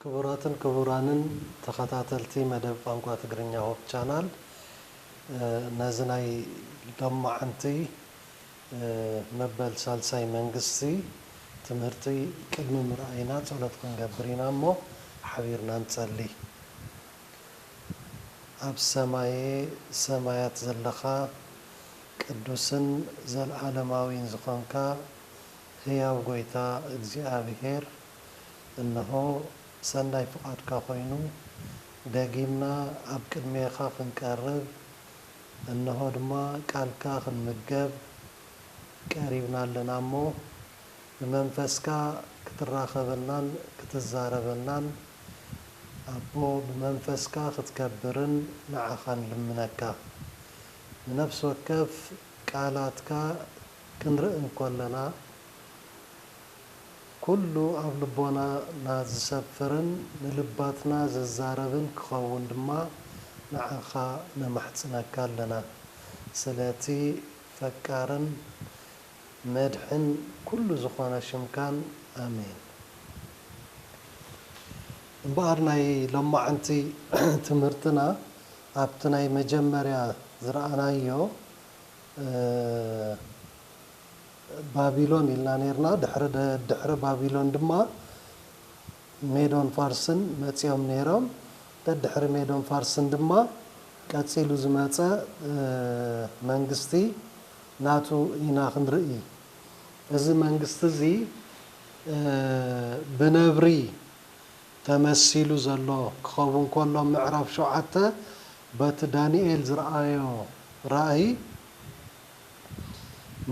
ክቡራትን ክቡራንን ተኸታተልቲ መደብ ቋንቋ ትግርኛ ሆፕ ቻናል ነዚ ናይ ሎምዓንቲ መበል ሳልሳይ መንግስቲ ትምህርቲ ቅድሚ ምርኣይና ጸሎት ክንገብር ኢና እሞ ሓቢርና ንጸሊ። ኣብ ሰማየ ሰማያት ዘለኻ ቅዱስን ዘልኣለማዊን ዝኾንካ ህያው ጎይታ እግዚኣብሔር እንሆ ሰናይ ፍቓድካ ኮይኑ ደጊምና ኣብ ቅድሜኻ ክንቀርብ እንሆ ድማ ቃልካ ክንምገብ ቀሪብና ኣለና እሞ ብመንፈስካ ክትራኸበናን ክትዛረበናን ኣቦ ብመንፈስካ ክትከብርን ንዓኻ ንልምነካ። ንነፍሲ ወከፍ ቃላትካ ክንርኢ እንኮለና፣ ኩሉ ኣብ ልቦናና ዝሰፍርን ንልባትና ዝዛረብን ክኸውን ድማ ንዓኻ ነማሕጽነካ ኣለና። ስለቲ ፈቃርን መድሕን ኩሉ ዝኾነ ሽምካን ኣሜን። እምበኣር ናይ ሎማዕንቲ ትምህርትና ኣብቲ ናይ መጀመርያ ዝረኣናዮ፣ ባቢሎን ኢልና ኔርና፣ ድሕሪ ድሕሪ ባቢሎን ድማ ሜዶን ፋርስን መጺኦም ኔሮም፣ ደድሕሪ ሜዶን ፋርስን ድማ ቀጺሉ ዝመጸ መንግስቲ ናቱ ኢና ክንርኢ። እዚ መንግስቲ እዚ ብነብሪ ተመሲሉ ዘሎ ክኸውን ከሎ ምዕራፍ ሸውዓተ በቲ ዳንኤል ዝረኣዮ ራእይ፣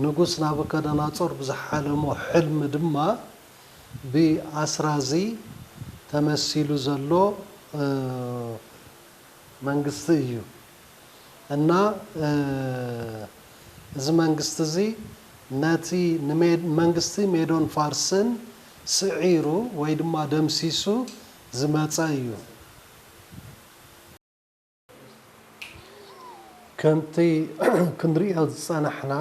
ንጉስ ናቡከደናፆር ብዝሓለሞ ሕልሚ ድማ ብኣስራ እዚ ተመሲሉ ዘሎ መንግስቲ እዩ እና እዚ መንግስቲ እዚ ነቲ ንመንግስቲ ሜዶን ፋርስን ስዒሩ ወይ ድማ ደምሲሱ ዝመፀ እዩ። ከምቲ ክንርእዮ ዝጸናሕና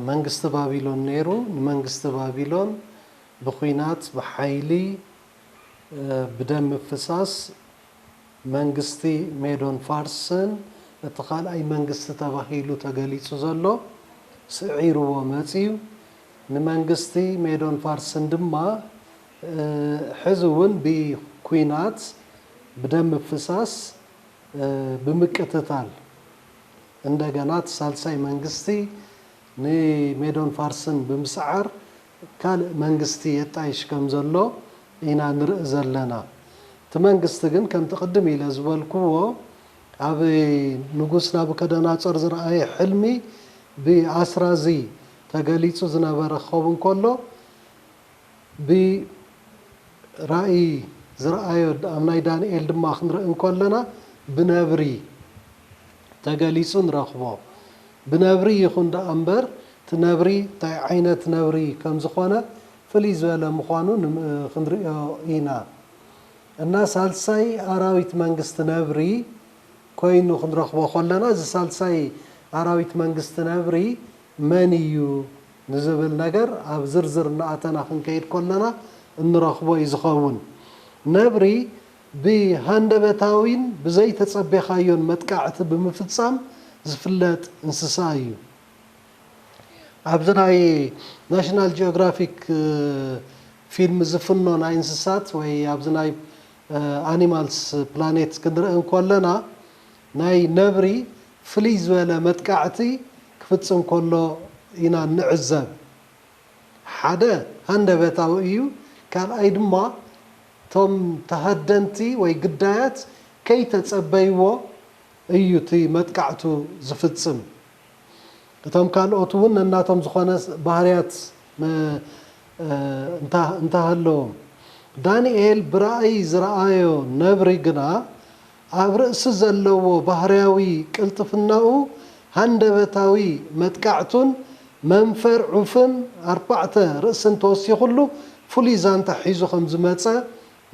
መንግስቲ ባቢሎን ነይሩ፣ ንመንግስቲ ባቢሎን ብኩናት፣ ብሓይሊ፣ ብደም ምፍሳስ መንግስቲ ሜዶን ፋርስን እቲ ካልኣይ መንግስቲ ተባሂሉ ተገሊጹ ዘሎ ስዒርዎ መጺኡ። ንመንግስቲ ሜዶን ፋርስን ድማ ሕዚ ውን ብኩናት ብደም ምፍሳስ ብምቅትታል እንደገና እቲ ሳልሳይ መንግስቲ ንሜዶን ፋርስን ብምስዓር ካልእ መንግስቲ የጣይሽ ከም ዘሎ ኢና ንርኢ ዘለና። እቲ መንግስቲ ግን ከምቲ ቅድም ኢለ ዝበልክዎ ኣብ ንጉስ ናቡከደናፆር ዝረኣየ ሕልሚ ብኣስራዚ ተገሊፁ ዝነበረ ክኸውን ከሎ ብራእይ ዝረኣዮ ኣብ ናይ ዳንኤል ድማ ክንርኢ እንከሎና ብነብሪ ተገሊጹ ንረኽቦ። ብነብሪ ይኹን ደኣ እምበር እቲ ነብሪ እንታይ ዓይነት ነብሪ ከም ዝኾነ ፍልይ ዝበለ ምዃኑ ክንርእዮ ኢና። እና ሳልሳይ ኣራዊት መንግስቲ ነብሪ ኮይኑ ክንረኽቦ ከሎና እዚ ሳልሳይ ኣራዊት መንግስቲ ነብሪ መን እዩ ንዝብል ነገር ኣብ ዝርዝር እናኣተና ክንከይድ ከሎና እንረኽቦ እዩ ዝኸውን። ነብሪ ብሃንደበታዊን ብዘይተጸቤኻዮን መጥቃዕቲ ብምፍጻም ዝፍለጥ እንስሳ እዩ። ኣብዚ ናይ ናሽናል ጂኦግራፊክ ፊልም ዝፍኖ ናይ እንስሳት ወይ ኣብዚ ናይ ኣኒማልስ ፕላኔት ክንርኢ እንከለና፣ ናይ ነብሪ ፍልይ ዝበለ መጥቃዕቲ ክፍጽም ከሎ ኢና እንዕዘብ። ሓደ ሃንደበታዊ እዩ፣ ካልኣይ ድማ እቶም ተሃደንቲ ወይ ግዳያት ከይተጸበይዎ እዩ እቲ መጥቃዕቱ ዝፍጽም። እቶም ካልኦት እውን ነናቶም ዝኾነ ባህርያት እንተሃለዎም። ዳንኤል ብራእይ ዝረኣዮ ነብሪ ግና ኣብ ርእሲ ዘለዎ ባህርያዊ ቅልጥፍናኡ፣ ሃንደበታዊ መጥቃዕቱን መንፈር ዑፍን ኣርባዕተ ርእስን ተወሲኹሉ ፍሉይ ዛንታ ሒዙ ከም ዝመጸ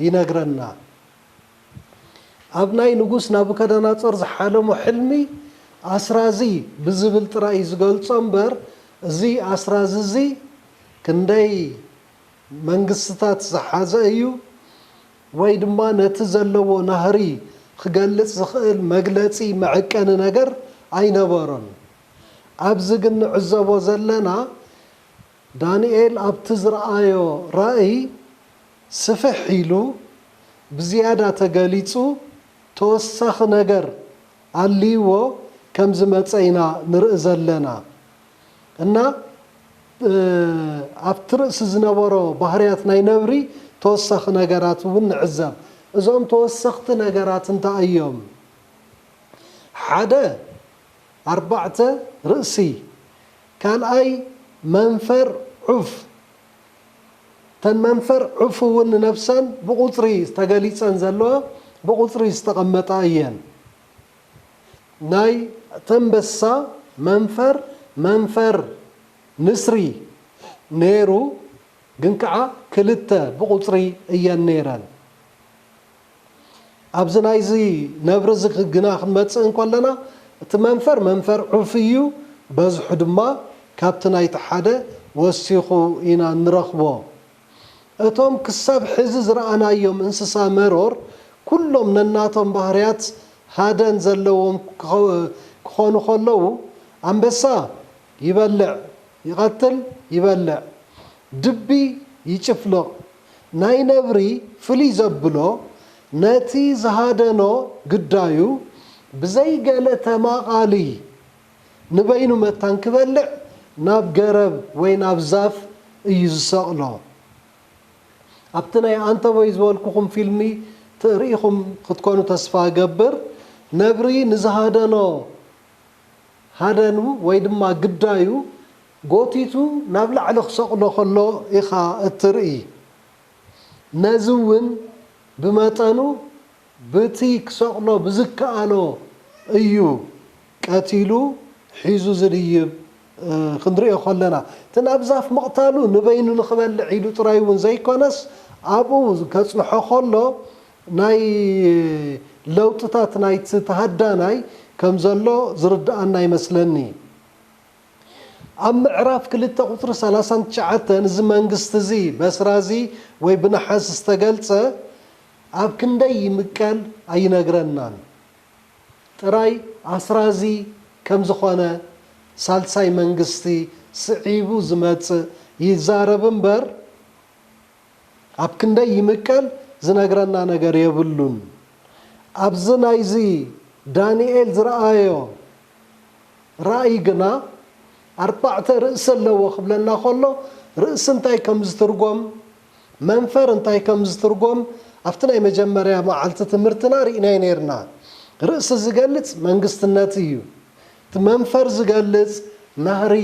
ይነግረና። ኣብ ናይ ንጉስ ናቡከደናጾር ዝሓለሞ ሕልሚ ኣስራዚ ብዝብል ጥራይ እዩ ዝገልጾ እምበር እዚ ኣስራዚ እዚ ክንደይ መንግስትታት ዝሓዘ እዩ፣ ወይ ድማ ነቲ ዘለዎ ናህሪ ኺገልጽ ዚኽእል መግለጺ መዐቀኒ ነገር ኣይነበሮን። ኣብዚ ግን ንዕዘቦ ዘለና፣ ዳንኤል ኣብቲ ዝረኣዮ ራእይ ስፍሕ ኢሉ፣ ብዝያዳ ተገሊጹ፣ ተወሳኺ ነገር ኣልይዎ ከም ዝመጸ ኢና ንርኢ ዘለና እና፣ ኣብቲ ርእሲ ዝነበሮ ባህርያት ናይ ነብሪ ተወሳኺ ነገራት እውን ንዕዘብ። እዞም ተወሰኽቲ ነገራት እንታይ እዮም? ሓደ፣ ኣርባዕተ ርእሲ፣ ካልኣይ መንፈር ዑፍ፣ እተን መንፈር ዑፍ እውን ንነብሰን ብቑጽሪ ተገሊጸን ዘለዋ ብቑጽሪ ዝተቐመጣ እየን። ናይ ተምበሳ መንፈር መንፈር ንስሪ ነይሩ ግን ከኣ ክልተ ብቁጽሪ እየን ነይረን ኣብዚ ናይዚ ነብሪ እዚ ግና ክንመጽእ እንከለና እቲ መንፈር መንፈር ዑፍ እዩ በዝሑ ድማ ካብቲ ናይቲ ሓደ ወሲኹ ኢና እንረኽቦ እቶም ክሳብ ሕዚ ዝረኣናዮም እንስሳ መሮር ኩሎም ነናቶም ባህርያት ሃደን ዘለዎም ክኾኑ ከለዉ፣ ኣንበሳ ይበልዕ፣ ይቐትል፣ ይበልዕ። ድቢ ይጭፍልቕ። ናይ ነብሪ ፍልይ ዘብሎ ነቲ ዝሃደኖ ግዳዩ ብዘይ ገለ ተማቓሊ ንበይኑ መታን ክበልዕ ናብ ገረብ ወይ ናብ ዛፍ እዩ ዝሰቕሎ። ኣብቲ ናይ ኣንተቦይ ዝበልኩኹም ፊልሚ ትእርኢኹም ክትኮኑ ተስፋ እገብር። ነብሪ ንዝሃደኖ ሃደኑ ወይ ድማ ግዳዩ ጎቲቱ ናብ ላዕሊ ክሰቕሎ ከሎ ኢኻ እትርኢ። ነዚ እውን ብመጠኑ በቲ ክሰቕሎ ብዝከኣሎ እዩ ቀቲሉ ሒዙ ዝድይብ ክንርእዮ ከሎና እቲ ናብ ዛፍ ምቕታሉ ንበይኑ ንኽበልዕ ኢሉ ጥራይ እውን ዘይኮነስ ኣብኡ ከጽንሖ ከሎ ናይ ለውጥታት ናይቲ ተሃዳናይ ከም ዘሎ ዝርድኣና ይመስለኒ። ኣብ ምዕራፍ ክልተ ቁጽሪ ሰላሳን ትሽዓተን እዚ መንግስቲ እዚ በስራዚ ወይ ብነሓስ ዝተገልጸ፣ ኣብ ክንደይ ይምቀል ኣይነግረናን ጥራይ ኣስራዚ ከም ዝኾነ ሳልሳይ መንግስቲ ስዒቡ ዝመጽእ ይዛረብ እምበር ኣብ ክንደይ ይምቀል ዝነግረና ነገር የብሉን ኣብዚ ናይዚ ዳኒኤል ዝረኣዮ ራእይ ግና ኣርባዕተ ርእሲ ኣለዎ ክብለና ከሎ ርእሲ እንታይ ከም ዝትርጎም መንፈር እንታይ ከም ዝትርጎም ኣብቲ ናይ መጀመርያ መዓልቲ ትምህርትና ርኢናዮ ነይርና። ርእሲ ዝገልጽ መንግስትነት እዩ። እቲ መንፈር ዝገልጽ ናህሪ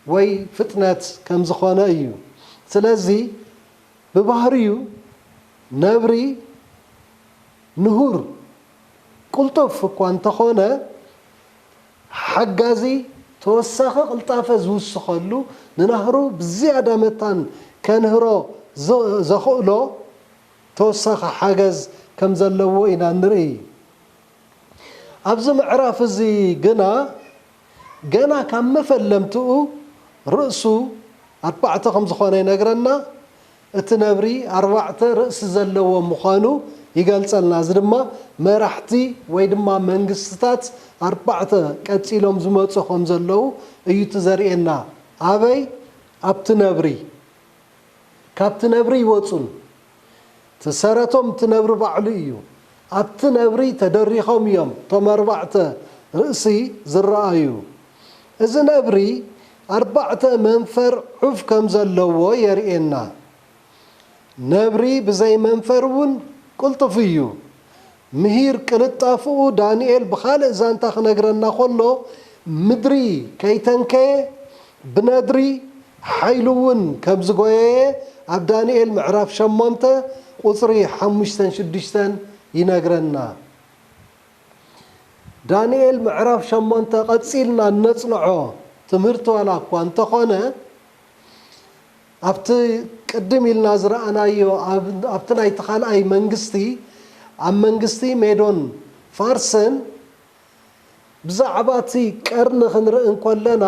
ወይ ፍጥነት ከም ዝኾነ እዩ። ስለዚ ብባህሪኡ ነብሪ ንሁር፣ ቅልጡፍ፣ እኳ እንተኾነ፣ ሓጋዚ ተወሳኺ ቅልጣፈ ዝውስኸሉ፣ ንናህሩ ብዝያዳ መታን ከንህሮ ዘኽእሎ ተወሳኺ ሓገዝ ከም ዘለዎ ኢና እንርኢ። ኣብዚ ምዕራፍ እዚ ግና ገና ካብ መፈለምትኡ ርእሱ ኣርባዕተ ከም ዝኾነ ይነግረና፣ እቲ ነብሪ ኣርባዕተ ርእሲ ዘለዎ ምዃኑ ይገልጸልና። እዚ ድማ መራሕቲ ወይ ድማ መንግስትታት ኣርባዕተ ቀጺሎም ዝመጹ ከም ዘለዉ እዩ እቲ ዘርእየና። ኣበይ? ኣብቲ ነብሪ። ካብቲ ነብሪ ይወጹን እቲ ሰረቶም እቲ ነብሪ ባዕሉ እዩ። ኣብቲ ነብሪ ተደሪኾም እዮም እቶም ኣርባዕተ ርእሲ ዝረኣዩ። እዚ ነብሪ ኣርባዕተ መንፈር ዑፍ ከም ዘለዎ የርእየና። ነብሪ ብዘይ መንፈር እውን ቅልጡፍ እዩ። ምሂር ቅልጣፍኡ ዳንኤል ብኻልእ ዛንታ ክነግረና ከሎ ምድሪ ከይተንከየ ብነድሪ ሓይሉ እውን ከብ ዝጎየየ ኣብ ዳንኤል ምዕራፍ ሸሞንተ ቁፅሪ ሓሙሽተን ሽዱሽተን ይነግረና። ዳንኤል ምዕራፍ ሸሞንተ ቀፂልና እነፅንዖ ትምህርቲ ዋላ እኳ እንተኾነ ኣብቲ ቅድም ኢልና ዝረኣናዮ ኣብቲ ናይቲ ካልኣይ መንግስቲ ኣብ መንግስቲ ሜዶን ፋርስን ብዛዕባ እቲ ቀርኒ ክንርኢ እንከለና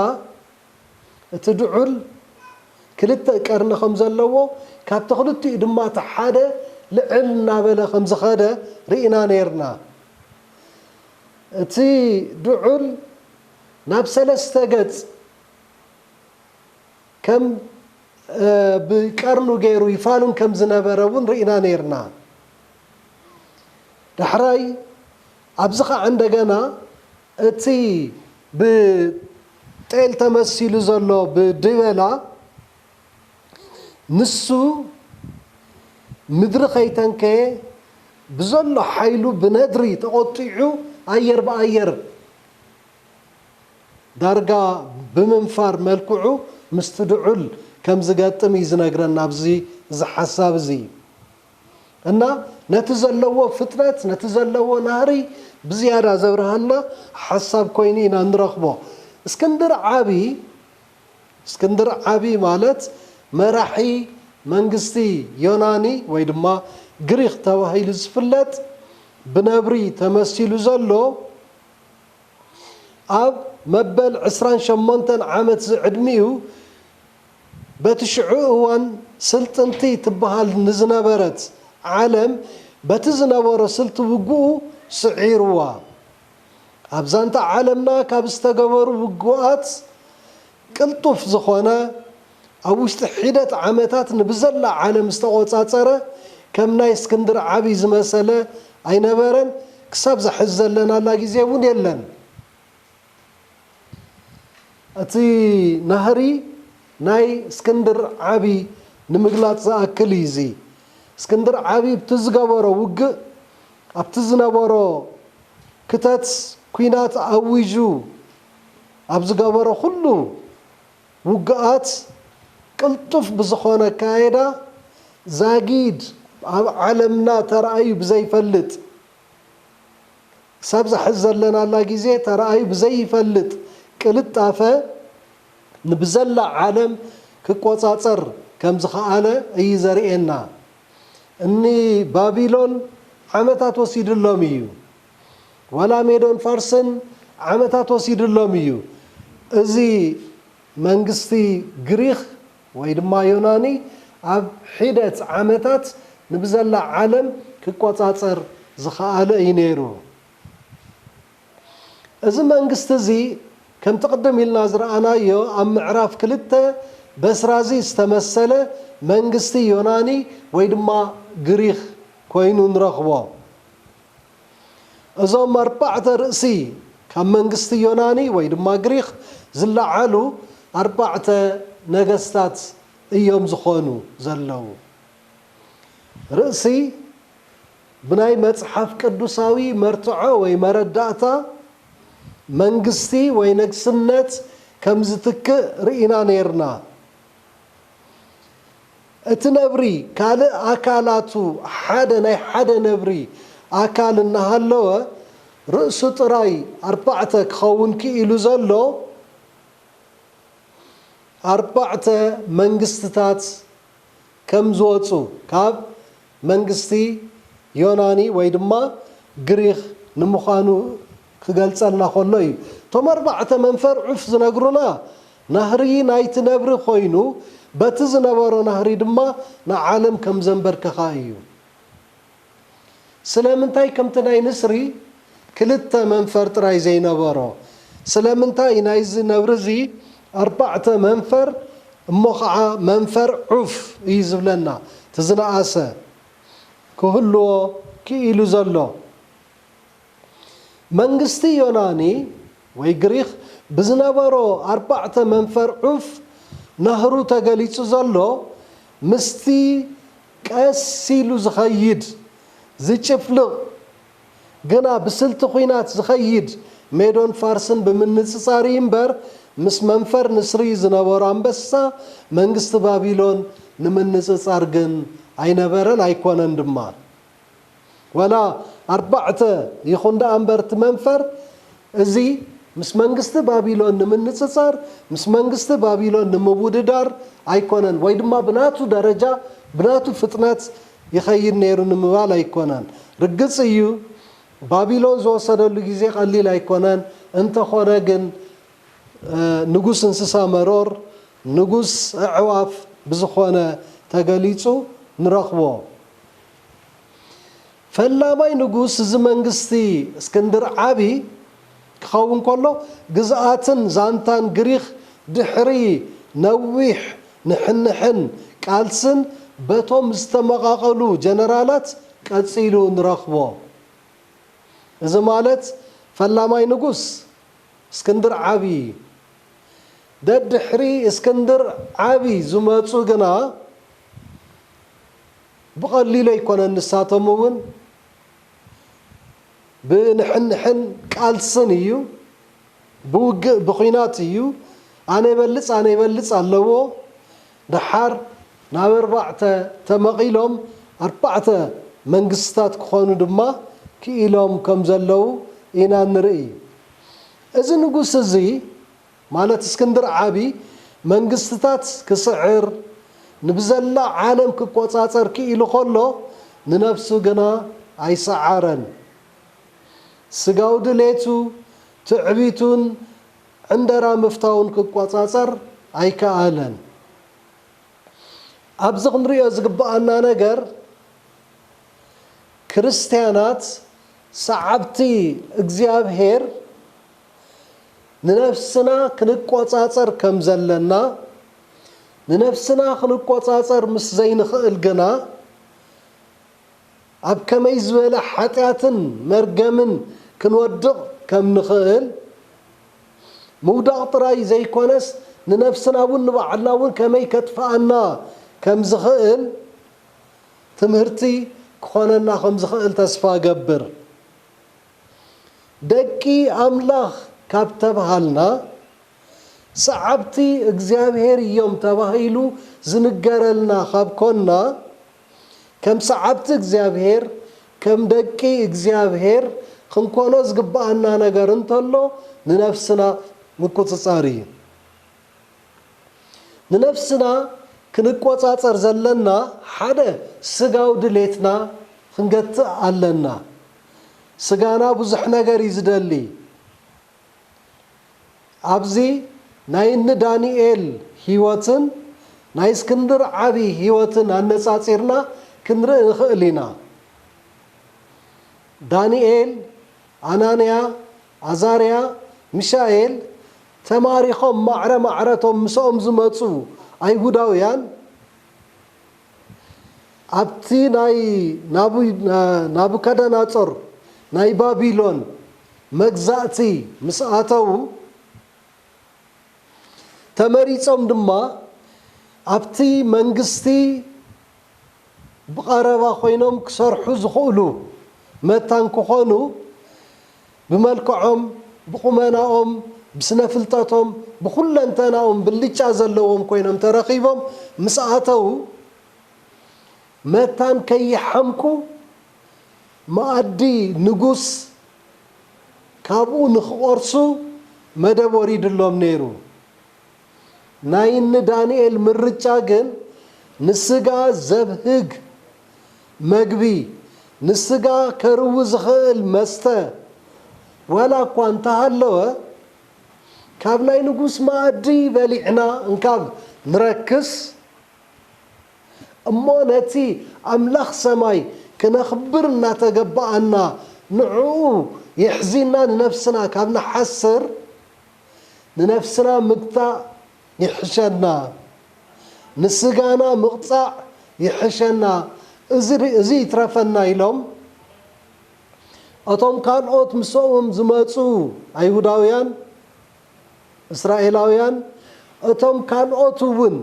እቲ ድዑል ክልተ ቀርኒ ከም ዘለዎ ካብቲ ክልቲኡ ድማ እቲ ሓደ ልዕል እናበለ ከም ዝኸደ ርኢና ነይርና። እቲ ድዑል ናብ ሰለስተ ገጽ ከም ብቀርኑ ገይሩ ይፋንን ከም ዝነበረ እውን ርኢና ነይርና። ዳሕራይ ኣብዚ ኸዓ እንደገና እቲ ብጤል ተመሲሉ ዘሎ ብድበላ ንሱ ምድሪ ከይተንከየ ብዘሎ ሓይሉ ብነድሪ ተቖጢዑ ኣየር ብኣየር ዳርጋ ብምንፋር መልክዑ ምስቲ ድዑል ከምዝገጥም እዩ ዝነግረና ኣብዚ እዚ ሓሳብ እዚ። እና ነቲ ዘለዎ ፍጥረት ነቲ ዘለዎ ናህሪ ብዝያዳ ዘብርሃልና ሓሳብ ኮይኑ ኢና ንረኽቦ። እስክንድር ዓቢ እስክንድር ዓቢ ማለት መራሒ መንግስቲ ዮናኒ ወይ ድማ ግሪኽ ተባሂሉ ዝፍለጥ ብነብሪ ተመሲሉ ዘሎ ኣብ መበል ዕስራን ሸሞንተን ዓመት ዝዕድሚኡ በቲ ሽዑ እዋን ስልጥንቲ ትበሃል ንዝነበረት ዓለም በቲ ዝነበሮ ስልቲ ውግኡ ስዒሩዋ። ኣብ ዛንታ ዓለምና ካብ ዝተገበሩ ውግኣት ቅልጡፍ ዝኾነ ኣብ ውሽጢ ሒደት ዓመታት ንብዘላ ዓለም ዝተቖጻጸረ ከም ናይ እስክንድር ዓቢ ዝመሰለ ኣይነበረን ክሳብ እዛ ሕዚ ዘለናላ ግዜ እውን የለን። እቲ ናህሪ ናይ እስክንድር ዓቢ ንምግላጽ ዝኣክል እዩ እዚ። እስክንድር ዓቢ ብቲ ዝገበሮ ውግእ ኣብቲ ዝነበሮ ክተት ኩናት ኣዊጁ ኣብ ዝገበሮ ኩሉ ውግኣት ቅልጡፍ ብዝኾነ ኣካይዳ ዛጊድ ኣብ ዓለምና ተራእዩ ብዘይፈልጥ ክሳብ እዛ ሕዚ ዘለናላ ግዜ ተራእዩ ብዘይፈልጥ ቅልጣፈ ንብዘላ ዓለም ክቆጻጸር ከም ዝኸኣለ እዩ ዘርእየና። እኒ ባቢሎን ዓመታት ወሲድሎም እዩ። ዋላ ሜዶን ፋርስን ዓመታት ወሲድሎም እዩ። እዚ መንግስቲ ግሪኽ ወይ ድማ ዮናኒ ኣብ ሒደት ዓመታት ንብዘላ ዓለም ኪቈጻጸር ዝኸኣለ እዩ ነይሩ። እዚ መንግስቲ እዚ ከምቲ ቅድም ኢልና ዝረኣናዮ ኣብ ምዕራፍ ክልተ በስራዚ ዝተመሰለ መንግስቲ ዮናኒ ወይ ድማ ግሪኽ ኮይኑ ንረኽቦ። እዞም ኣርባዕተ ርእሲ ካብ መንግስቲ ዮናኒ ወይ ድማ ግሪኽ ዝለዓሉ ኣርባዕተ ነገስታት እዮም ዝኾኑ ዘለዉ። ርእሲ ብናይ መጽሓፍ ቅዱሳዊ መርትዖ ወይ መረዳእታ መንግስቲ ወይ ነግስነት ከም ዝትክእ ርኢና ኔርና። እቲ ነብሪ ካልእ ኣካላቱ ሓደ ናይ ሓደ ነብሪ ኣካል እናሃለወ ርእሱ ጥራይ ኣርባዕተ ክኸውን ክኢሉ ዘሎ ኣርባዕተ መንግስትታት ከም ዝወጹ ካብ መንግስቲ ዮናኒ ወይ ድማ ግሪኽ ንምዃኑ ክገልጸልና ከሎ እዩ። እቶም ኣርባዕተ መንፈር ዑፍ ዝነግሩና ናህሪ ናይቲ ነብሪ ኮይኑ በቲ ዝነበሮ ናህሪ ድማ ንዓለም ከም ዘንበርከኻ እዩ። ስለምንታይ ከምቲ ናይ ንስሪ ክልተ መንፈር ጥራይ ዘይነበሮ፣ ስለምንታይ ናይዚ ነብሪ እዚ ኣርባዕተ መንፈር እሞ ኸዓ መንፈር ዑፍ እዩ ዝብለና እቲ ዝነኣሰ ክህልዎ ክኢሉ ዘሎ? መንግስቲ ዮናኒ ወይ ግሪኽ ብዝነበሮ ኣርባዕተ መንፈር ዑፍ ናህሩ ተገሊጹ ዘሎ ምስቲ ቀስ ኢሉ ዝኸይድ ዝጭፍልቕ ግና ብስልቲ ኹናት ዝኸይድ ሜዶን ፋርስን ብምንጽጻር እዩ እምበር ምስ መንፈር ንስሪ ዝነበሮ ኣንበሳ መንግስቲ ባቢሎን ንምንጽጻር ግን ኣይነበረን ኣይኮነን ድማ። ዋላ ኣርባዕተ ይኹን ደኣ እምበር እቲ መንፈር እዚ ምስ መንግስቲ ባቢሎን ንምንጽጻር ምስ መንግስቲ ባቢሎን ንምውድዳር ኣይኮነን ወይ ድማ ብናቱ ደረጃ ብናቱ ፍጥነት ይኸይድ ነይሩ ንምባል ኣይኮነን። ርግጽ እዩ ባቢሎን ዝወሰደሉ ግዜ ቀሊል ኣይኮነን እንተኾነ ግን ንጉስ እንስሳ መሮር ንጉስ ኣዕዋፍ ብዝኾነ ተገሊጹ ንረኽቦ። ፈላማይ ንጉስ እዚ መንግስቲ እስክንድር ዓቢ ክኸውን ከሎ፣ ግዝኣትን ዛንታን ግሪኽ ድሕሪ ነዊሕ ንሕንሕን ቃልስን በቶም ዝተመቓቐሉ ጀነራላት ቀጺሉ ንረኽቦ። እዚ ማለት ፈላማይ ንጉስ እስክንድር ዓቢ። ደድሕሪ እስክንድር ዓቢ ዝመጹ ግና፣ ብቐሊሉ ኣይኮነን ንሳቶም እውን ብንሕንሕን ቃልስን እዩ ብውግእ ብኹናት እዩ ኣነ ይበልፅ ኣነ ይበልፅ ኣለዎ ደሓር ናብ ኣርባዕተ ተመቒሎም ኣርባዕተ መንግስትታት ክኾኑ ድማ ክኢሎም ከምዘለዉ ኢና ንርእይ እዚ ንጉስ እዚ ማለት እስክንድር ዓቢ መንግስትታት ክስዕር፣ ንብዘላ ዓለም ክቆጻጸር ክኢሉ ከሎ፣ ንነብሱ ግና ኣይሰዓረን። ስጋዊ ድሌቱ፣ ትዕቢቱን ዕንደራ ምፍታውን ክቆጻጸር ኣይከኣለን። ኣብዚ ክንርእዮ ዝግበኣና ነገር፣ ክርስትያናት ሰዓብቲ እግዚኣብሔር፣ ንነፍስና ክንቆጻጸር ከም ዘለና፣ ንነፍስና ክንቆጻጸር ምስ ዘይንኽእል ግና፣ ኣብ ከመይ ዝበለ ሓጢኣትን መርገምን ክንወድቕ ከም ንኽእል፣ ምውዳቕ ጥራይ ዘይኮነስ ንነፍስና እውን ንባዕልና እውን ከመይ ከጥፍኣና ከም ዝኽእል ትምህርቲ ክኾነና ከም ዝኽእል ተስፋ እገብር። ደቂ ኣምላኽ ካብ ተብሃልና፣ ሰዓብቲ እግዚኣብሔር እዮም ተባሂሉ ዝንገረልና ካብ ኮንና፣ ከም ሰዓብቲ እግዚኣብሔር፣ ከም ደቂ እግዚኣብሔር ኽንኮኖ ዝግብኣና ነገር እንተሎ ንነፍስና ምቁጽጻር እዩ። ንነፍስና ክንቆጻጸር ዘለና ሓደ ስጋዊ ድሌትና ክንገትእ ኣለና። ስጋና ብዙሕ ነገር እዩ ዝደሊ። ኣብዚ ናይ እኒ ዳኒኤል ህይወትን ናይ እስክንድር ዓቢ ህይወትን ኣነጻጺርና ክንርኢ ንኽእል ኢና። ዳኒኤል፣ ኣናንያ፣ ኣዛርያ፣ ሚሳኤል፣ ተማሪኾም ማዕረ ማዕረ እቶም ምሰኦም ዝመጹ ኣይሁዳውያን ኣብቲ ናይ ናቡከደናጾር ናይ ባቢሎን መግዛእቲ ምስ ኣተዉ ተመሪጾም ድማ ኣብቲ መንግስቲ ብቐረባ ኮይኖም ክሰርሑ ዝኽእሉ መታን ክኾኑ ብመልክዖም፣ ብቑመናኦም፣ ብስነ ፍልጠቶም፣ ብኹለንተናኦም ብልጫ ዘለዎም ኮይኖም ተረኺቦም ምስ ኣተዉ መታን ከይሓምቁ መኣዲ ንጉስ ካብኡ ንክቖርሱ መደብ ወሪድሎም ነይሩ። ናይ እኒ ዳንኤል ምርጫ ግን ንስጋ ዘብህግ መግቢ፣ ንስጋ ከርዊ ዝኸእል መስተ ዋላ እኳ እንተሃለወ፣ ካብ ናይ ንጉስ መኣዲ በሊዕና እንካብ ንረክስ እሞ ነቲ ኣምላኽ ሰማይ ክነኽብር እናተገበኣና ንዕኡ የሕዚንና ንነፍስና ካብ ንሓስር፣ ንነፍስና ምግታእ ይሕሸና ንስጋና ምቕጻዕ ይሕሸና እዚ ይትረፈና ኢሎም እቶም ካልኦት ምስኦም ዝመጹ ኣይሁዳውያን እስራኤላውያን እቶም ካልኦት እውን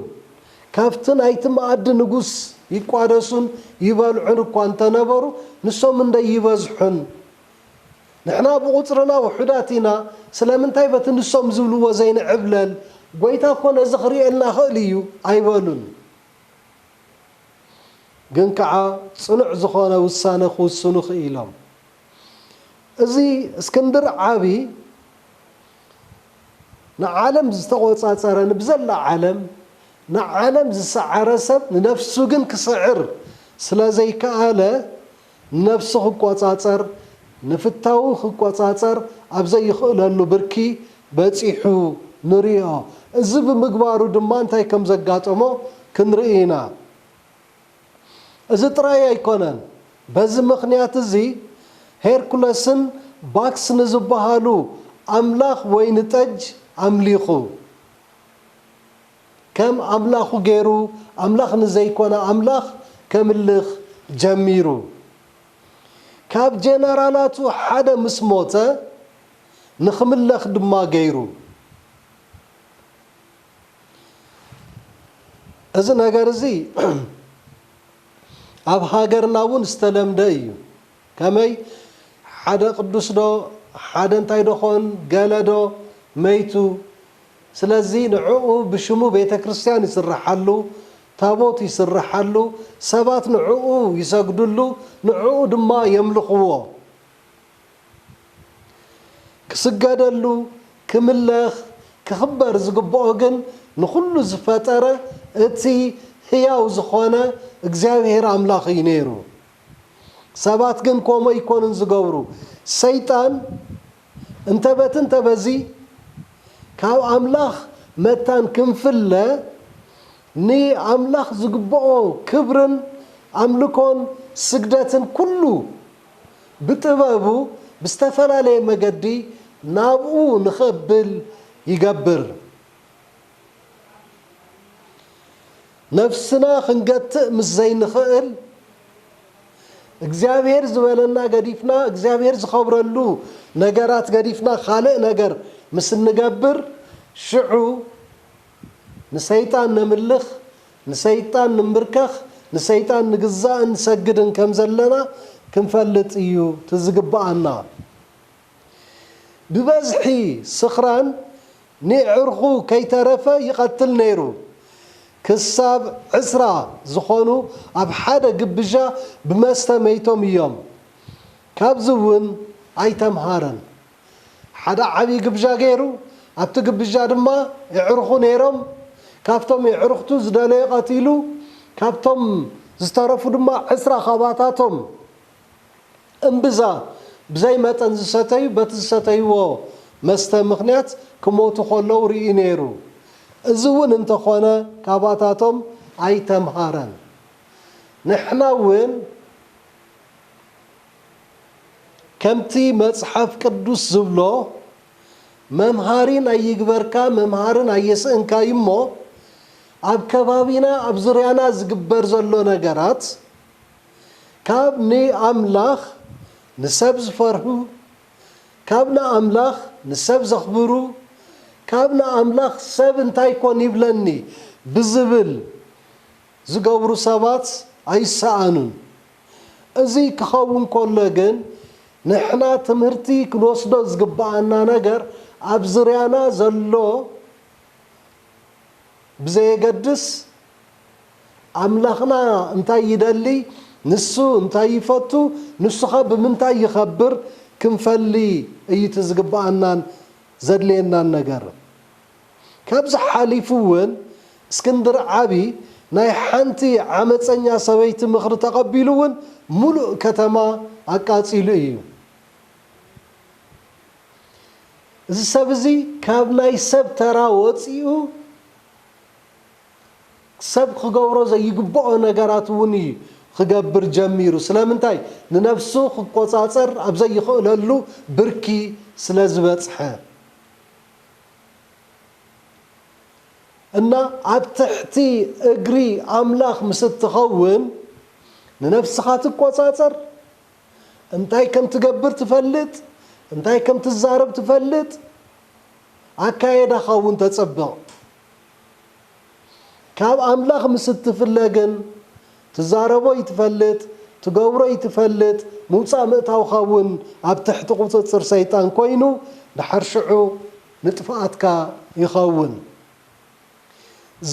ካብቲ ናይቲ መኣዲ ንጉስ ይቋደሱን ይበልዑን እኳ እንተነበሩ ንሶም እንደይበዝሑን ንሕና ብቑጽርና ውሑዳት ኢና፣ ስለምንታይ በቲ ንሶም ዝብልዎ ዘይንዕብለል? ጐይታ እኮ ነዚ ክርእየልና ይኽእል ኢዩ ኣይበሉን። ግን ከኣ ጽኑዕ ዝዀነ ውሳነ ክውስኑ ክኢሎም። እዚ እስክንድር ዓቢ ንዓለም ዝተቖጻጸረ ንብዘላ ዓለም ንዓለም ዝሰዓረ ሰብ ንነፍሱ ግን ክስዕር ስለ ዘይከኣለ፣ ነብሱ ክቆጻጸር ንፍታዉ ክቆጻጸር ኣብ ዘይኽእለሉ ብርኪ በጺሑ ንሪኦ። እዚ ብምግባሩ ድማ እንታይ ከም ዘጋጠሞ ክንርኢ ኢና። እዚ ጥራይ ኣይኮነን። በዚ ምኽንያት እዚ ሄርኩለስን ባክስ ንዝበሃሉ ኣምላኽ ወይኒ ጠጅ ኣምሊኹ። ከም ኣምላኹ ገይሩ ኣምላኽ ንዘይኮነ ኣምላኽ ከምልኽ ጀሚሩ። ካብ ጀነራላቱ ሓደ ምስ ሞተ ንኽምለኽ ድማ ገይሩ። እዚ ነገር እዚ ኣብ ሃገርና እውን ዝተለምደ እዩ። ከመይ ሓደ ቅዱስ ዶ ሓደ እንታይ ዶ ኮን ገለ ዶ መይቱ ስለዚ ንዕኡ ብሽሙ ቤተክርስትያን ይስረሓሉ ታቦት ይስረሓሉ ሰባት ንዕኡ ይሰግድሉ ንዕኡ ድማ የምልኽዎ ክስገደሉ ክምለኽ ክኽበር ዝግብኦ ግን ንኹሉ ዝፈጠረ እቲ ህያው ዝኾነ እግዚኣብሔር ኣምላኽ እዩ ነይሩ። ሰባት ግን ኮምኡ ኣይኮኑን ዝገብሩ። ሰይጣን እንተ በቲ እንተ በዚ ካብ ኣምላኽ መታን ክንፍለ ንኣምላኽ ዝግብኦ ክብርን ኣምልኮን ስግደትን ኩሉ ብጥበቡ ብዝተፈላለየ መገዲ ናብኡ ንኸብል ይገብር። ነፍስና ክንገትእ ምስ ዘይንኽእል፣ እግዚኣብሔር ዝበለና ገዲፍና፣ እግዚኣብሔር ዝኸብረሉ ነገራት ገዲፍና ካልእ ነገር ምስ እንገብር፣ ሽዑ ንሰይጣን ነምልኽ፣ ንሰይጣን ንንብርከኽ፣ ንሰይጣን ንግዛእን ንሰግድን ከም ዘለና ክንፈልጥ እዩ እቲ ዝግብኣና። ብበዝሒ ስኽራን ንየዕርኹ ከይተረፈ ይቐትል ነይሩ። ክሳብ ዕስራ ዝኾኑ ኣብ ሓደ ግብዣ ብመስተ መይቶም እዮም። ካብዚ እውን ኣይተምሃረን። ሓደ ዓብዪ ግብዣ ገይሩ፣ ኣብቲ ግብዣ ድማ የዕርኹ ነይሮም፣ ካብቶም የዕርኽቱ ዝደለዮ ቀቲሉ፣ ካብቶም ዝተረፉ ድማ ዕስራ ካባታቶም፣ እምብዛ ብዘይ መጠን ዝሰተዩ በቲ ዝሰተይዎ መስተ ምኽንያት ክሞቱ ከለዉ ርእዩ ነይሩ። እዚ እውን እንተኾነ ካባታቶም ኣይተምሃረን። ንሕና እውን ከምቲ መጽሓፍ ቅዱስ ዝብሎ መምሃሪን ኣይግበርካ መምሃርን ኣየስእንካ እዩ እሞ ኣብ ከባቢና ኣብ ዙርያና ዝግበር ዘሎ ነገራት ካብ ንኣምላኽ ንሰብ ዝፈርሁ፣ ካብ ንኣምላኽ ንሰብ ዘኽብሩ፣ ካብ ንኣምላኽ ሰብ እንታይ ኮን ይብለኒ ብዝብል ዝገብሩ ሰባት ኣይሰኣኑን። እዚ ክኸውን ከሎ ግን ንሕና ትምህርቲ ክንወስዶ ዝግብኣና ነገር ኣብ ዝርያና ዘሎ ብዘየገድስ ኣምላኽና እንታይ ይደሊ፣ ንሱ እንታይ ይፈቱ፣ ንሱኸ ብምንታይ ይኸብር ክንፈሊ እዩ እቲ ዝግብኣናን ዘድልየናን ነገር። ካብዚ ሓሊፉ እውን እስክንድር ዓቢ ናይ ሓንቲ ዓመጸኛ ሰበይቲ ምኽሪ ተቐቢሉ እውን ምሉእ ከተማ ኣቃጺሉ እዩ። እዚ ሰብ እዚ ካብ ናይ ሰብ ተራ ወጺኡ፣ ሰብ ኺገብሮ ዘይግብኦ ነገራት እውን እዩ ኺገብር ጀሚሩ። ስለምንታይ? ንነፍሱ ኺቈጻጸር ኣብ ዘይኽእለሉ ብርኪ ስለ ዝበጽሐ እና። ኣብ ትሕቲ እግሪ ኣምላኽ ምስ እትኸውን፣ ንነፍስኻ ትቈጻጸር፣ እንታይ ከም እትገብር ትፈልጥ፣ እንታይ ከም እትዛረብ ትፈልጥ፣ ኣካየዳኻ እውን ተጽብቕ። ካብ ኣምላኽ ምስ እትፍለ ግን፣ ትዛረቦ እይትፈልጥ፣ ትገብሮ እይትፈልጥ፣ ምውጻእ ምእታውካ እውን ኣብ ትሕቲ ቁጽጽር ሰይጣን ኮይኑ ድሓር ሽዑ ንጥፍኣትካ ይኸውን።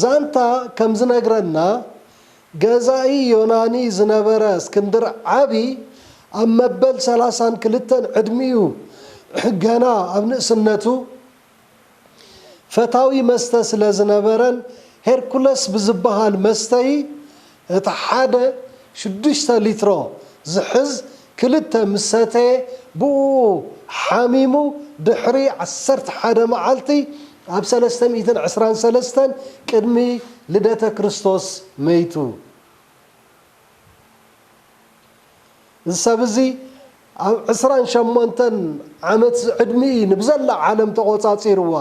ዛንታ ከም ዝነግረና ገዛኢ ዮናኒ ዝነበረ እስክንድር ዓቢ ኣብ መበል ሰላሳን ክልተን ዕድሚኡ ገና ኣብ ንእስነቱ፣ ፈታዊ መስተ ስለ ዝነበረን ሄርኩለስ ብዝበሃል መስተዪ እቲ ሓደ ሽዱሽተ ሊትሮ ዝሕዝ ክልተ ምስ ሰተየ ብእኡ ሓሚሙ ድሕሪ ዓሰርተ ሓደ መዓልቲ ኣብ ሰለስተ ሚእትን ዕስራን ሰለስተን ቅድሚ ልደተ ክርስቶስ መይቱ። እዚ ሰብ እዚ ኣብ ዕስራን ሸሞንተን ዓመት ዝዕድሚኡ'ዩ ንብዘላ ዓለም ተቖጻጺርዋ።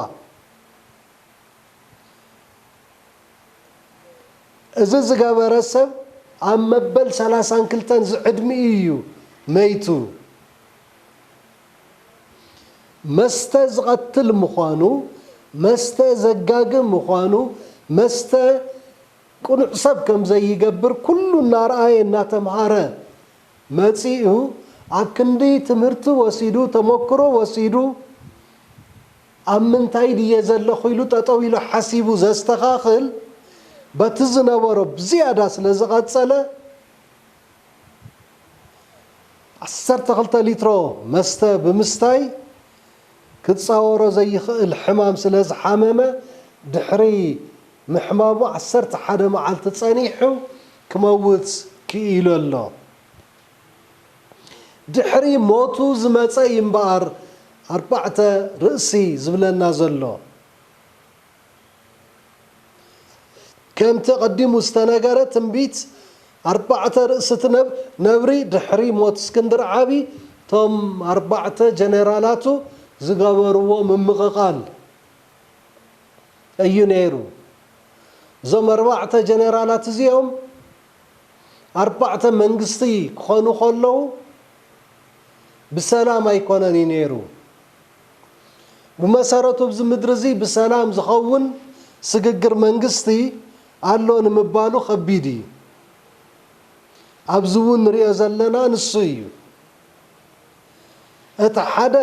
እዚ ዝገበረ ሰብ ኣብ መበል ሰላሳን ክልተን ዝዕድሚኡ'ዩ መይቱ። መስተ ዝቐትል ምዃኑ፣ መስተ ዘጋግም ምዃኑ፣ መስተ ቅኑዕ ሰብ ከም ዘይገብር ኩሉ እናርኣየ እናተምሃረ መጺኡ ኣብ ክንዲ ትምህርቲ ወሲዱ ተሞክሮ ወሲዱ ኣብ ምንታይ ድየ ዘለኹ ኢሉ ጠጠው ኢሉ ሓሲቡ ዘስተኻኽል በቲ ዝነበሮ ብዝያዳ ስለ ዝቐጸለ ዓሰርተ ክልተ ሊትሮ መስተ ብምስታይ ክጻወሮ ዘይኽእል ሕማም ስለ ዝሓመመ ድሕሪ ምሕማሙ ዓሰርተ ሓደ መዓልቲ ጸኒሑ ክመውት ክኢሉ ኣሎ። ድሕሪ ሞቱ ዝመጸ እዩ'ምበኣር ኣርባዕተ ርእሲ ዝብለና ዘሎ። ከምቲ ኣቐዲሙ ዝተነገረ ትንቢት ኣርባዕተ ርእስቲ ነብሪ ድሕሪ ሞት እስክንድር ዓቢ እቶም ኣርባዕተ ጀነራላቱ ዝገበርዎ ምምቕቓል እዩ ነይሩ። እዞም ኣርባዕተ ጀነራላት እዚኦም ኣርባዕተ መንግስቲ ክኾኑ ከለዉ ብሰላም ኣይኮነን እዩ ነይሩ። ብመሰረቱ ኣብዚ ምድሪ እዚ ብሰላም ዝኸውን ስግግር መንግስቲ ኣሎ ንምባሉ ከቢድ እዩ። ኣብዚ እውን ንሪኦ ዘለና ንሱ እዩ። እቲ ሓደ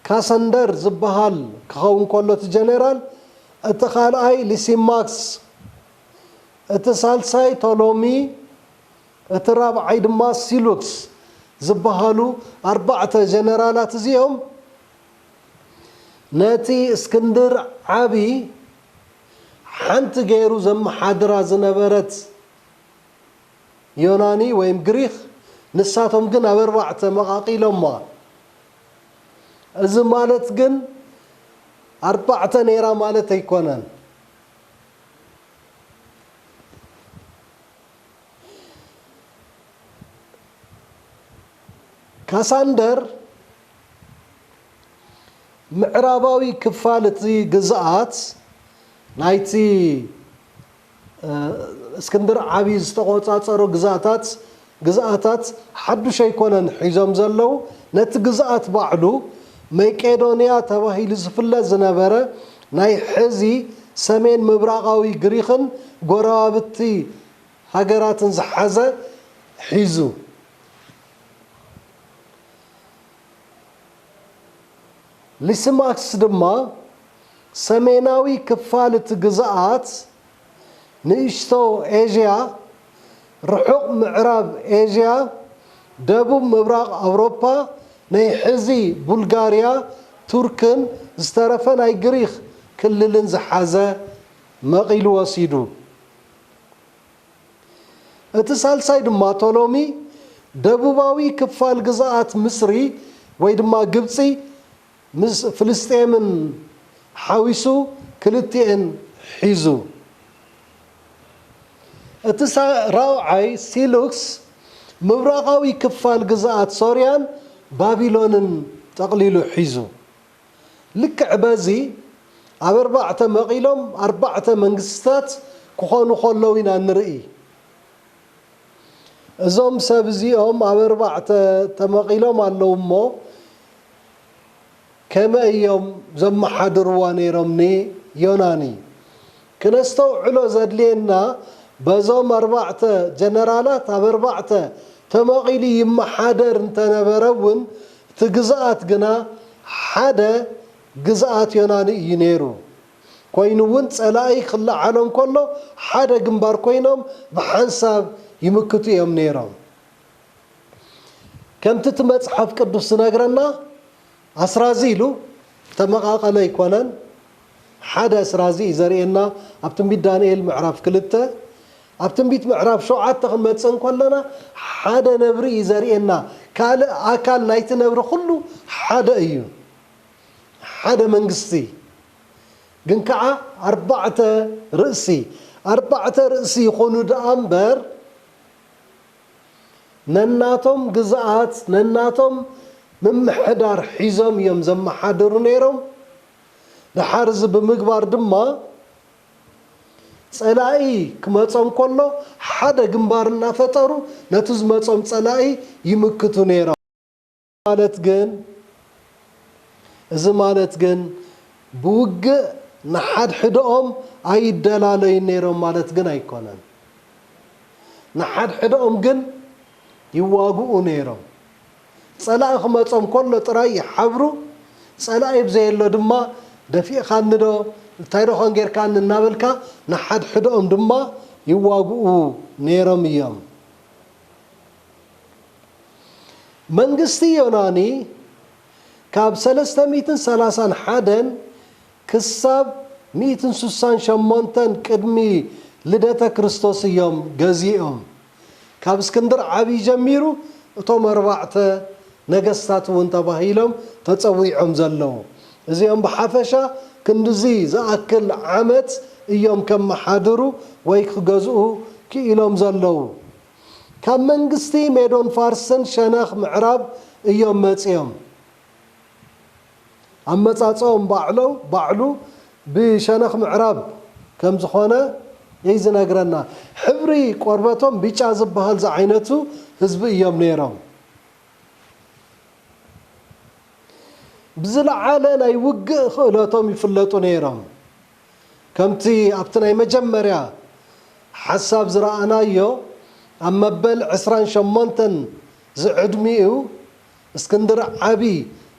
ካሰንደር ዝበሃል ክኸውን ከሎ እቲ ጀነራል፣ እቲ ካልኣይ ሊሲማክስ፣ እቲ ሳልሳይ ቶሎሚ፣ እቲ ራብዓይ ድማ ሲሉክስ ዝበሃሉ ኣርባዕተ ጀነራላት እዚኦም ነቲ እስክንድር ዓቢ ሓንቲ ገይሩ ዘመሓድራ ዝነበረት ዮናኒ ወይም ግሪኽ ንሳቶም ግን ኣብ ኣርባዕተ መቓቒሎማ። እዚ ማለት ግን ኣርባዕተ ነይራ ማለት ኣይኮነን። ካሳንደር ምዕራባዊ ክፋል እቲ ግዝኣት ናይቲ እስክንድር ዓብዪ ዝተቖፃፀሮ ግዝኣታት ግዝኣታት ሓዱሽ ኣይኮነን ሒዞም ዘለው ነቲ ግዝኣት ባዕሉ መቄዶንያ ተባሂሉ ዝፍለጥ ዝነበረ ናይ ሕዚ ሰሜን ምብራቓዊ ግሪኽን ጎረባብቲ ሃገራትን ዝሓዘ ሒዙ፣ ሊስማክስ ድማ ሰሜናዊ ክፋል እቲ ግዝኣት፣ ንእሽቶ ኤዥያ፣ ርሑቕ ምዕራብ ኤዥያ፣ ደቡብ ምብራቕ ኣውሮፓ፣ ናይ ሕዚ ቡልጋርያ፣ ቱርክን ዝተረፈ ናይ ግሪኽ ክልልን ዝሓዘ መቒሉ ወሲዱ። እቲ ሳልሳይ ድማ ቶሎሚ ደቡባዊ ክፋል ግዝኣት ምስሪ ወይ ድማ ግብፂ ምስ ፍልስጤምን ሓዊሱ ክልቲኤን ሒዙ። እቲ ራብዓይ ሲሉክስ ምብራቓዊ ክፋል ግዝኣት ሶርያን ባቢሎንን ጠቕሊሉ ሒዙ። ልክዕ በዚ ኣብ ኣርባዕተ መቒሎም ኣርባዕተ መንግስትታት ክኾኑ ከለዉ ኢና እንርኢ። እዞም ሰብ እዚኦም ኣብ ኣርባዕተ ተመቒሎም ኣለዉ እሞ ከመይ እዮም ዘመሓድርዋ ነይሮም ንዮናኒ? ክነስተውዕሎ ዘድልየና በዞም ኣርባዕተ ጀነራላት ኣብ ኣርባዕተ ተመቒሉ ይመሓደር እንተነበረ እውን እቲ ግዝኣት ግና ሓደ ግዝኣት ዮናኒ እዩ ነይሩ። ኮይኑ እውን ፀላኢ ክለዓሎ እንከሎ ሓደ ግንባር ኮይኖም ብሓንሳብ ይምክቱ እዮም ነይሮም። ከምቲ እቲ መፅሓፍ ቅዱስ ዝነግረና። ኣስራዚ ኢሉ ተመቓቐለ ኣይኮነን፣ ሓደ ኣስራዚ እዩ ዘርእየና ኣብ ትንቢት ዳንኤል ምዕራፍ ክልተ። ኣብ ትንቢት ምዕራፍ ሸውዓተ ክንመጽእ እንከለና ሓደ ነብሪ እዩ ዘርእየና፣ ካልእ ኣካል ናይቲ ነብሪ ኩሉ ሓደ እዩ፣ ሓደ መንግስቲ ግን ከኣ ኣርባዕተ ርእሲ፣ ኣርባዕተ ርእሲ ይኹኑ ደኣ እምበር፣ ነናቶም ግዝኣት ነናቶም ምምሕዳር ሒዞም እዮም ዘመሓድሩ ነይሮም። ደሓር እዚ ብምግባር ድማ ፀላኢ ክመፆም ከሎ ሓደ ግንባር እናፈጠሩ ነቲ ዝመፆም ፀላኢ ይምክቱ ነይሮም። ማለት ግን እዚ ማለት ግን ብውግእ ንሓድሕደኦም ኣይደላለዩን ነይሮም ማለት ግን ኣይኮነን። ንሓድሕደኦም ግን ይዋግኡ ነይሮም። ጸላኢ ክመጾም ከሎ ጥራይ ይሓብሩ፣ ጸላኢ ብዘየሎ ድማ ደፊእኻኒዶ እንታይዶ ኾን ጌርካኒ እናበልካ ንሓድሕደኦም ድማ ይዋግኡ ነይሮም እዮም። መንግስቲ ዮናኒ ካብ ሰለስተ ሚእትን ሰላሳን ሓደን ክሳብ ሚእትን ስሳን ሸሞንተን ቅድሚ ልደተ ክርስቶስ እዮም ገዚኦም። ካብ እስክንድር ዓብዪ ጀሚሩ እቶም ኣርባዕተ ነገስታት እውን ተባሂሎም ተፀዊዖም ዘለዉ እዚኦም ብሓፈሻ ክንድዚ ዝኣክል ዓመት እዮም ከመሓድሩ ወይ ክገዝኡ ክኢሎም ዘለዉ። ካብ መንግስቲ ሜዶን ፋርስን ሸነኽ ምዕራብ እዮም መጺኦም። ኣመጻጽኦም ባዕሎም ባዕሉ ብሸነኽ ምዕራብ ከም ዝኾነ እይ ዝነግረና። ሕብሪ ቆርበቶም ቢጫ ዝብሃል ዝዓይነቱ ህዝቢ እዮም ነይሮም። ብዝለዓለ ናይ ውግእ ክእለቶም ይፍለጡ ነይሮም። ከምቲ ኣብቲ ናይ መጀመርያ ሓሳብ ዝረኣናዮ፣ ኣብ መበል ዕስራን ሸሞንተን ዝዕድሚኡ እስክንድር ዓቢ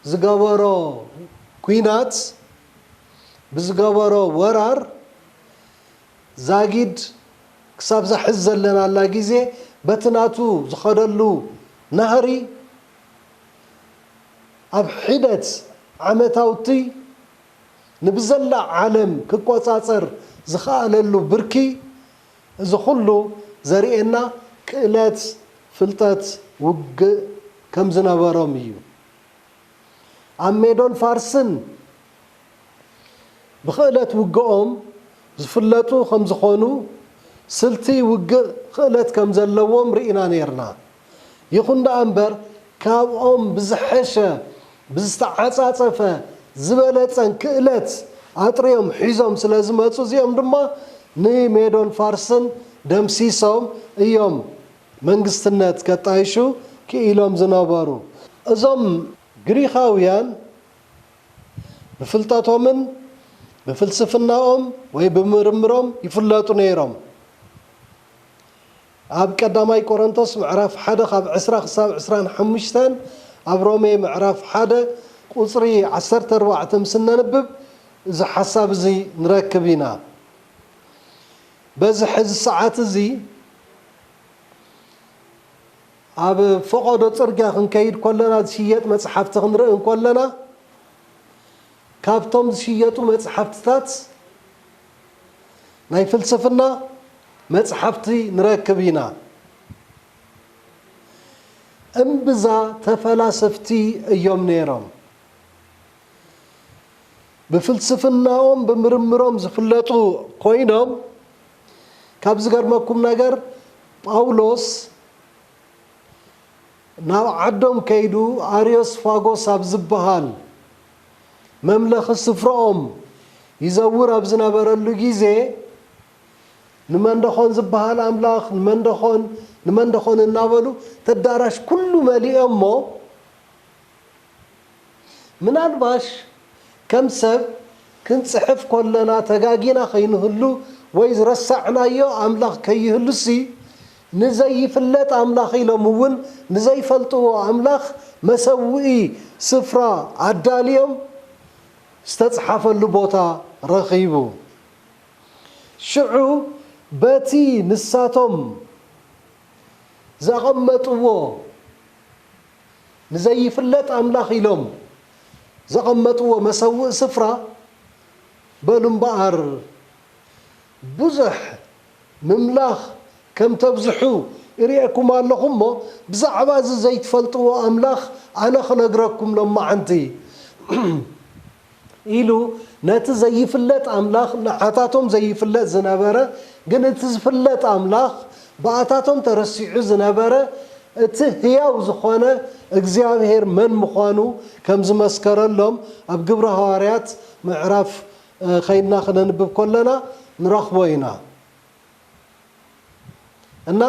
ዝገበሮ ኩናት፣ ብዝገበሮ ወራር፣ ዛጊድ ክሳብዛ ሕዚ ዘለናላ ግዜ በቲ ናቱ ዝኸደሉ ናህሪ ኣብ ሒደት ዓመታውቲ፣ ንብዘላ ዓለም ክቆጻጸር ዝኸኣለሉ ብርኪ እዚ ኩሉ ዘርእየና ክእለት ፍልጠት ውግእ ከም ዝነበሮም እዩ። ኣብ ሜዶን ፋርስን ብክእለት ውግኦም ዝፍለጡ ከም ዝኾኑ ስልቲ ውግእ ክእለት ከም ዘለዎም ርኢና ኔርና። ይኹን ደኣ እምበር ካብኦም ብዝሐሸ፣ ብዝተዓፃፀፈ፣ ዝበለፀን ክእለት ኣጥርዮም ሒዞም ስለ ዝመፁ እዚኦም ድማ ንሜዶን ፋርስን ደምሲሶም እዮም መንግስትነት ከጣይሹ ክኢሎም ዝነበሩ። እዞም ግሪኻውያን ብፍልጠቶምን ብፍልስፍናኦም ወይ ብምርምሮም ይፍለጡ ነይሮም። ኣብ ቀዳማይ ቆረንቶስ ምዕራፍ ሓደ ካብ ዕስራ ክሳብ ዕስራን ሓሙሽተን ኣብ ሮሜ ምዕራፍ ሓደ ቁጽሪ ዓሰርተ ኣርባዕተ ምስ እነንብብ እዚ ሓሳብ እዚ ንረክብ ኢና በዚ ሕዚ ሰዓት እዚ ኣብ ፈቐዶ ጽርግያ ክንከይድ ኮለና ዝሽየጥ መጽሓፍቲ ክንርኢ እንኮለና ካብቶም ዝሽየጡ መጽሓፍትታት ናይ ፍልስፍና መጽሓፍቲ ንረክብ ኢና። እምብዛ ተፈላሰፍቲ እዮም ነይሮም። ብፍልስፍናኦም ብምርምሮም ዝፍለጡ ኮይኖም ካብ ዝገርመኩም ነገር ጳውሎስ ናብ ዓዶም ከይዱ ኣርዮስፋጎስ ኣብ ዝበሃል መምለኺ ስፍራኦም ይዘውር ኣብ ዝነበረሉ ግዜ ንመንደኾን ዝበሃል ኣምላኽ ንመንደኾን ንመንደኾን እናበሉ ተዳራሽ ኩሉ መሊኦሞ ምናልባሽ ከም ሰብ ክንጽሕፍ ኮለና ተጋጊና ከይንህሉ ወይ ዝረሳዕናዮ ኣምላኽ ከይህሉሲ ንዘይፍለጥ ኣምላኽ ኢሎም እውን ንዘይፈልጥዎ ኣምላኽ መሰውኢ ስፍራ ኣዳልዮም ዝተፅሓፈሉ ቦታ ረኺቡ። ሽዑ በቲ ንሳቶም ዘቐመጥዎ ንዘይፍለጥ ኣምላኽ ኢሎም ዘቐመጥዎ መሰውኢ ስፍራ በሉ እምበኣር፣ ብዙሕ ምምላኽ ከም ተብዝሑ እርኤኩም ኣለኹ እሞ ብዛዕባ እዚ ዘይትፈልጥዎ ኣምላኽ ኣነ ክነግረኩም ሎማዓንቲ ኢሉ ነቲ ዘይፍለጥ ኣምላኽ ንዓታቶም ዘይፍለጥ ዝነበረ ግን እቲ ዝፍለጥ ኣምላኽ ብኣታቶም ተረሲዑ ዝነበረ እቲ ህያው ዝኾነ እግዚኣብሄር መን ምዃኑ ከም ዝመስከረሎም ኣብ ግብሪ ሃዋርያት ምዕራፍ ኸይድና ክነንብብ ከሎና ንረኽቦ ኢና እና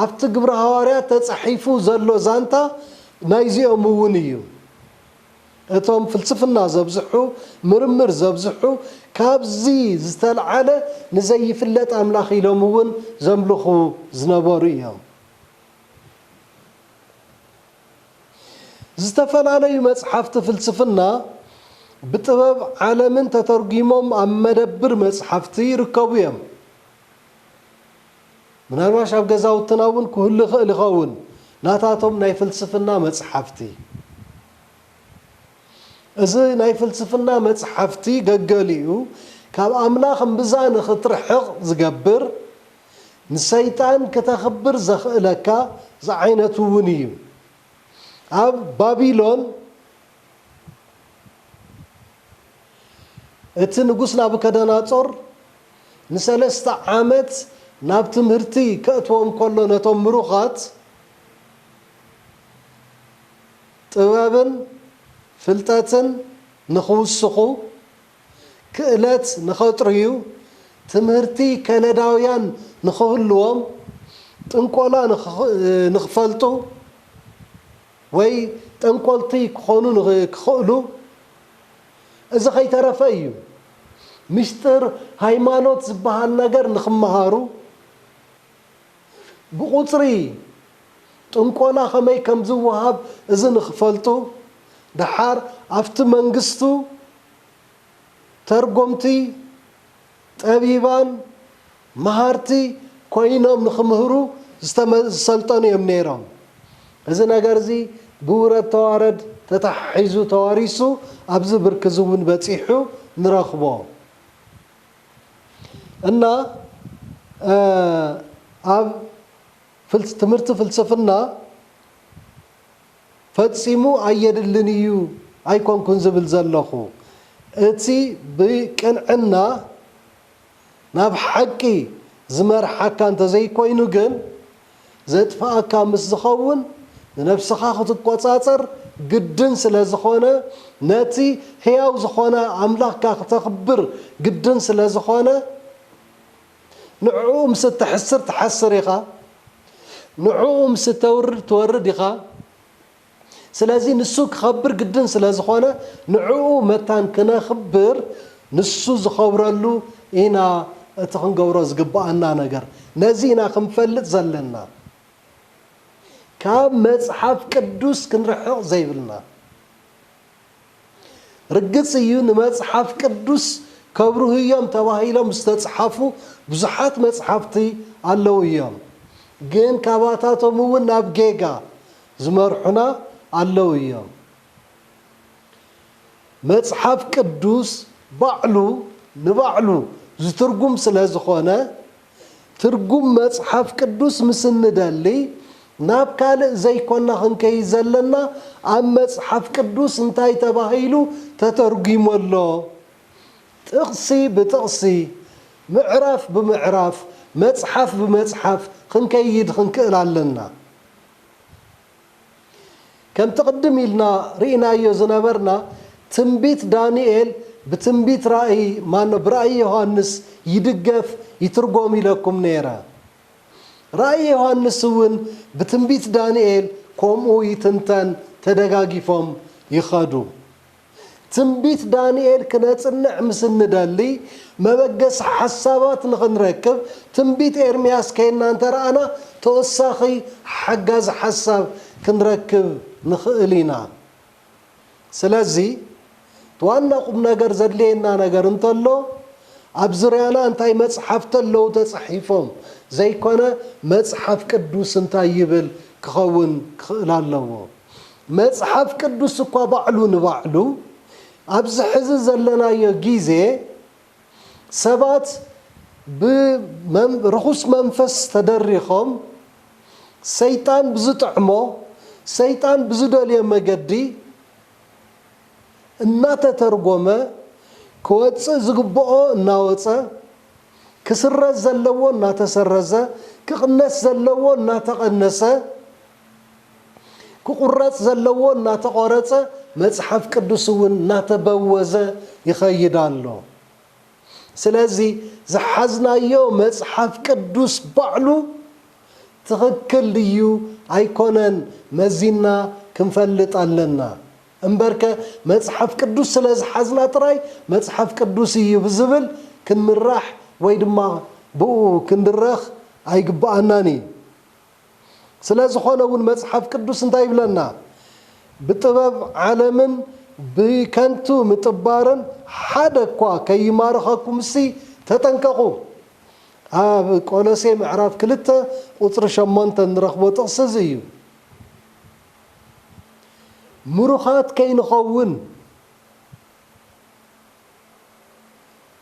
ኣብቲ ግብረ ሃዋርያት ተጻሒፉ ዘሎ ዛንታ ናይዚኦም እውን እዩ እቶም ፍልስፍና ዘብዝሑ ምርምር ዘብዝሑ ካብዚ ዝተልዓለ ንዘይፍለጥ ኣምላኽ ኢሎም እውን ዘምልኹ ዝነበሩ እዮም። ዝተፈላለዩ መጽሓፍቲ ፍልስፍና ብጥበብ ዓለምን ተተርጒሞም ኣብ መደብር መጽሓፍቲ ይርከቡ እዮም። ምናልባሽ ኣብ ገዛውትና እውን ክህሉ ይኽእል ይኸውን፣ ናታቶም ናይ ፍልስፍና መጽሓፍቲ። እዚ ናይ ፍልስፍና መጽሓፍቲ ገገሊኡ ካብ ኣምላኽ እምብዛ ንኽትርሕቕ ዝገብር፣ ንሰይጣን ክተኽብር ዘኽእለካ ዝዓይነቱ እውን እዩ። ኣብ ባቢሎን እቲ ንጉስ ናቡከደናፆር ንሰለስተ ዓመት ናብ ትምህርቲ ከእትዎም ከሎ ነቶም ምሩኻት ጥበብን ፍልጠትን ንኽውስኹ ክእለት ንኸጥርዩ፣ ትምህርቲ ከነዳውያን ንኽህልዎም፣ ጥንቆላ ንኽፈልጡ ወይ ጠንቆልቲ ክኾኑ ንኽኽእሉ፣ እዚ ከይተረፈ እዩ፣ ምስጢር ሃይማኖት ዝበሃል ነገር ንኽመሃሩ፣ ብቑጽሪ ጥንቆላ ከመይ ከም ዝወሃብ እዚ ንኽፈልጡ ደሓር ኣብቲ መንግስቱ ተርጎምቲ ጠቢባን መሃርቲ ኮይኖም ንኽምህሩ ዝሰልጠኑ እዮም ነይሮም። እዚ ነገር እዚ ብውረድ ተዋረድ ተተሓሒዙ ተዋሪሱ ኣብዚ ብርኪ እዚ እውን በጺሑ ንረኽቦ። እና ኣብ ትምህርቲ ፍልስፍና ፈጺሙ ኣየድልን እዩ ኣይኮንኩን ዝብል ዘለኹ። እቲ ብቅንዕና ናብ ሓቂ ዝመርሓካ እንተዘይኮይኑ ግን ዘጥፍኣካ ምስ ዝኸውን ንነብስኻ ክትቆጻጸር ግድን ስለ ዝኾነ ነቲ ሕያው ዝኾነ ኣምላኽካ ክተኽብር ግድን ስለ ዝኾነ ንዕኡ ምስ እተሕስር ትሓስር ኢኻ ንዕኡ ምስ እተውርድ ትወርድ ኢኻ። ስለዚ ንሱ ክኸብር ግድን ስለ ዝኾነ ንዕኡ መታን ክነኽብር ንሱ ዝኸብረሉ ኢና እቲ ክንገብሮ ዝግብኣና ነገር ነዚ ኢና ክንፈልጥ ዘለና ካብ መጽሓፍ ቅዱስ ክንርሕቕ ዘይብልና። ርግጽ እዩ ንመጽሓፍ ቅዱስ ከብርሁ እዮም ተባሂሎም ዝተጽሓፉ ብዙሓት መጽሓፍቲ ኣለዉ እዮም። ግን ካባታቶም እውን ናብ ጌጋ ዝመርሑና ኣለዉ እዮም። መጽሓፍ ቅዱስ ባዕሉ ንባዕሉ ዝትርጉም ስለ ዝኾነ፣ ትርጉም መጽሓፍ ቅዱስ ምስ እንደሊ፣ ናብ ካልእ ዘይኰና ኽንከይድ ዘለና፣ ኣብ መጽሓፍ ቅዱስ እንታይ ተባሂሉ ተተርጒሙ ኣሎ? ጥቕሲ ብጥቕሲ፣ ምዕራፍ ብምዕራፍ፣ መጽሓፍ ብመጽሓፍ ኽንከይድ ኽንክእል ኣለና። ከምቲ ቅድም ኢልና ርኢናዮ ዝነበርና ትንቢት ዳንኤል ብትንቢት ራእይ ማኖ ብራእይ ዮሃንስ ይድገፍ ይትርጎም ኢለኩም ነይረ። ራእይ ዮሃንስ እውን ብትንቢት ዳንኤል ከምኡ ይትንተን ተደጋጊፎም ይኸዱ። ትንቢት ዳንኤል ክነጽንዕ ምስ እንደሊ፣ መበገሲ ሓሳባት ንኽንረክብ ትንቢት ኤርምያስ ኴንና እንተ ረኣና ተወሳኺ ሓጋዚ ሓሳብ ክንረክብ ንኽእል ኢና። ስለዚ፣ እቲ ዋና ቁምነገር ዘድልየና ነገር እንተሎ፣ ኣብ ዙርያና እንታይ መጽሓፍቲ ኣለዉ ተጻሒፎም ዘይኰነ፣ መጽሓፍ ቅዱስ እንታይ ይብል ክኸውን ክኽእል ኣለዎ። መጽሓፍ ቅዱስ እኳ ባዕሉ ንባዕሉ ኣብዚ ሕዚ ዘለናዮ ግዜ ሰባት ብርኹስ መንፈስ ተደሪኾም ሰይጣን ብዝጥዕሞ ሰይጣን ብዝደልዮ መገዲ እናተተርጎመ ክወጽእ ዝግብኦ እናወጸ ክስረዝ ዘለዎ እናተሰረዘ ክቕነስ ዘለዎ እናተቐነሰ ክቑረጽ ዘለዎ እናተቖረጸ፣ መጽሓፍ ቅዱስ እውን እናተበወዘ ይኸይድ ኣሎ። ስለዚ ዝሓዝናዮ መጽሓፍ ቅዱስ ባዕሉ ትኽክል ድዩ ኣይኮነን መዚንና ክንፈልጥ ኣለና። እምበርከ መጽሓፍ ቅዱስ ስለ ዝሓዝና ጥራይ መጽሓፍ ቅዱስ እዩ ብዝብል ክንምራሕ ወይ ድማ ብእኡ ክንድረኽ ኣይግብኣናን እዩ። ስለዝኾነ እውን መጽሓፍ ቅዱስ እንታይ ይብለና? ብጥበብ ዓለምን ብከንቱ ምጥባርን ሓደ እኳ ከይማርኸኩምሲ ተጠንቀቑ። ኣብ ቆሎሴ ምዕራፍ ክልተ ቁጽሪ ሸሞንተ እንረኽቦ ጥቕሲ እዚ እዩ። ምሩኻት ከይንኸውን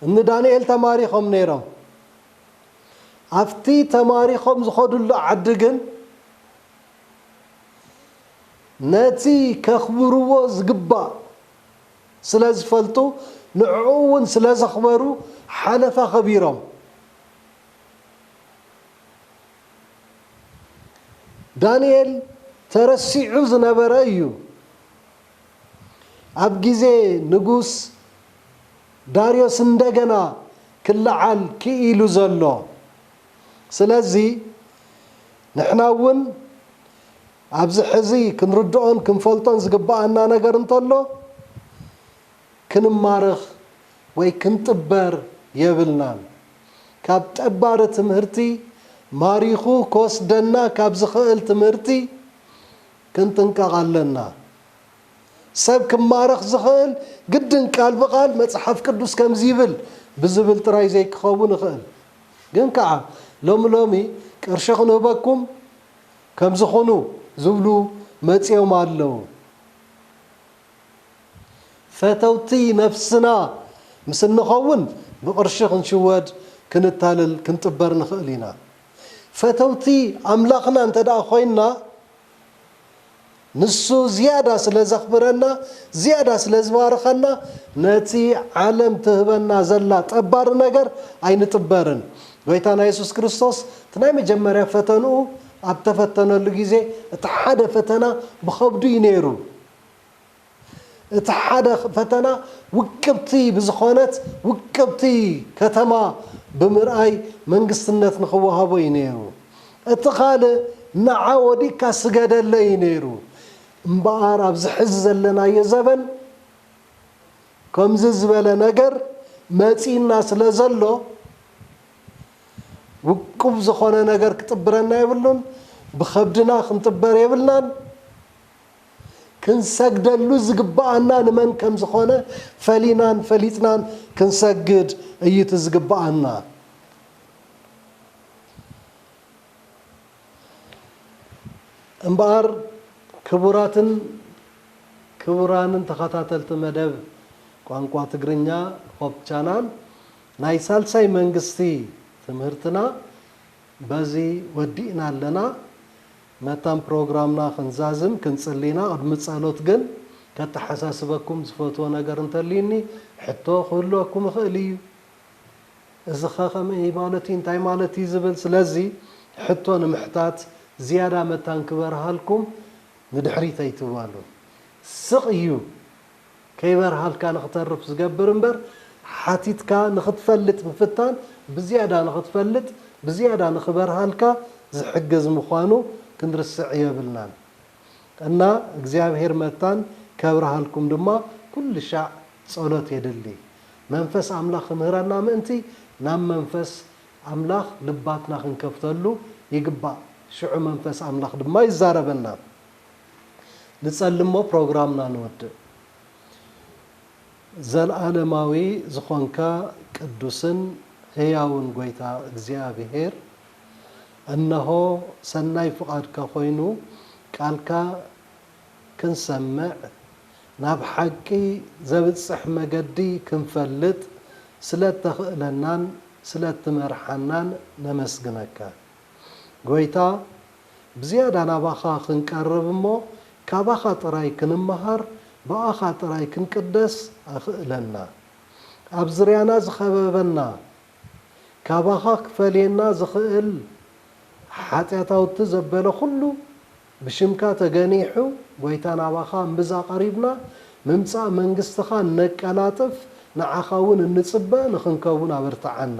እኒ ዳንኤል ተማሪኾም ነይሮም። ኣብቲ ተማሪኾም ዝኸድሉ ዓዲ ግን ነቲ ከኽብርዎ ዝግባእ ስለ ዝፈልጡ ንዕኡ እውን ስለ ዘኽበሩ ሓለፋ ኸቢሮም ዳንኤል ተረሲዑ ዝነበረ እዩ ኣብ ግዜ ንጉስ ዳርዮስ እንደገና ክለዓል ክኢሉ ዘሎ። ስለዚ ንሕና እውን ኣብዚ ሕዚ ክንርድኦን ክንፈልጦን ዝግበኣና ነገር እንተሎ ክንማረኽ ወይ ክንጥበር የብልናን። ካብ ጠባሪ ትምህርቲ ማሪኹ ክወስደና ካብ ዝኸእል ትምህርቲ ክንጥንቀቕ ኣለና። ሰብ ክማረኽ ዝኽእል ግድን ቃል ብቓል መጽሓፍ ቅዱስ ከምዚ ይብል ብዝብል ጥራይ ዘይክኸውን ይኽእል። ግን ከኣ ሎሚ ሎሚ ቅርሺ ክንህበኩም ከምዚ ኩኑ ዝብሉ መጺኦም ኣለዉ። ፈተውቲ ነፍስና ምስ እንኸውን ብቕርሺ ክንሽወድ ክንታለል ክንጥበር ንኽእል ኢና። ፈተውቲ ኣምላኽና እንተድኣ ኮይንና፣ ንሱ ዝያዳ ስለ ዘኽብረና ዝያዳ ስለ ዝባርኸና ነቲ ዓለም ትህበና ዘላ ጠባሪ ነገር ኣይንጥበርን። ጎይታና የሱስ ክርስቶስ እቲ ናይ መጀመርያ ፈተንኡ ኣብ ተፈተነሉ ግዜ እቲ ሓደ ፈተና ብኸብዱ እዩ ነይሩ። እቲ ሓደ ፈተና ውቅብቲ ብዝኾነት ውቅብቲ ከተማ ብምርኣይ መንግስትነት ንኽወሃቦ እዩ ነይሩ። እቲ ካልእ ንዓ ወዲቅካ ስገደለይ እዩ ነይሩ። እምበኣር ኣብዚ ሕዚ ዘለናዮ ዘበን ከምዚ ዝበለ ነገር መጺእና ስለዘሎ ውቁብ ዝኾነ ነገር ክጥብረና የብሉን። ብኸብድና ክንጥበር የብልናን። ክንሰግደሉ ዝግብኣና ንመን ከም ዝኾነ ፈሊናን ፈሊጥናን ክንሰግድ እዩ እቲ ዝግብኣና። እምበኣር ክቡራትን ክቡራንን ተኸታተልቲ መደብ ቋንቋ ትግርኛ ሆፕ ቻናል ናይ ሳልሳይ መንግስቲ ትምህርትና በዚ ወዲእና ኣለና። መታን ፕሮግራምና ክንዛዝም ክንጽሊ ኢና ቅድሚ ጸሎት ግን ከተሓሳስበኩም ዝፈትዎ ነገር እንተልዩኒ ሕቶ ክህልወኩም ይኽእል እዩ እዚኸ ከመይ እዩ ማለት እዩ እንታይ ማለት እዩ ዝብል ስለዚ ሕቶ ንምሕታት ዝያዳ መታን ክበርሃልኩም ንድሕሪት ኣይትባሉ ስቕ እዩ ከይበርሃልካ ንኽተርፍ ዝገብር እምበር ሓቲትካ ንኽትፈልጥ ምፍታን ብዝያዳ ንኽትፈልጥ ብዝያዳ ንኽበርሃልካ ዝሕግዝ ምዃኑ ክንርስዕ የብልናን እና እግዚኣብሔር መታን ከብርሃልኩም ድማ ኩልሻዕ ጸሎት የድሊ መንፈስ ኣምላኽ ክምህረና ምእንቲ ናብ መንፈስ ኣምላኽ ልባትና ክንከፍተሉ ይግባእ ሽዑ መንፈስ ኣምላኽ ድማ ይዛረበና። ንጸልሞ ፕሮግራምና ንወድእ። ዘልኣለማዊ ዝኾንካ ቅዱስን ህያውን ጎይታ እግዚኣብሔር እነሆ ሰናይ ፍቓድካ ኮይኑ ቃልካ ክንሰምዕ ናብ ሓቂ ዘብጽሕ መገዲ ክንፈልጥ ስለእተኽእለናን ስለእትመርሓናን ነመስግነካ ጎይታ ብዝያዳ ናባኻ ክንቀርብ እሞ ካባኻ ጥራይ ክንመሃር ብኣኻ ጥራይ ክንቅደስ ኣኽእለና። ኣብ ዝርያና ዝኸበበና ካባኻ ክፈልየና ዝኽእል ሓጢኣታውቲ ዘበለ ኩሉ ብሽምካ ተገኒሑ ጎይታ ናባኻ እምብዛ ቀሪብና ምምጻእ መንግስትኻ እነቀላጥፍ ንዓኻ እውን እንጽበ ንኽንከውን ኣበርትዓና።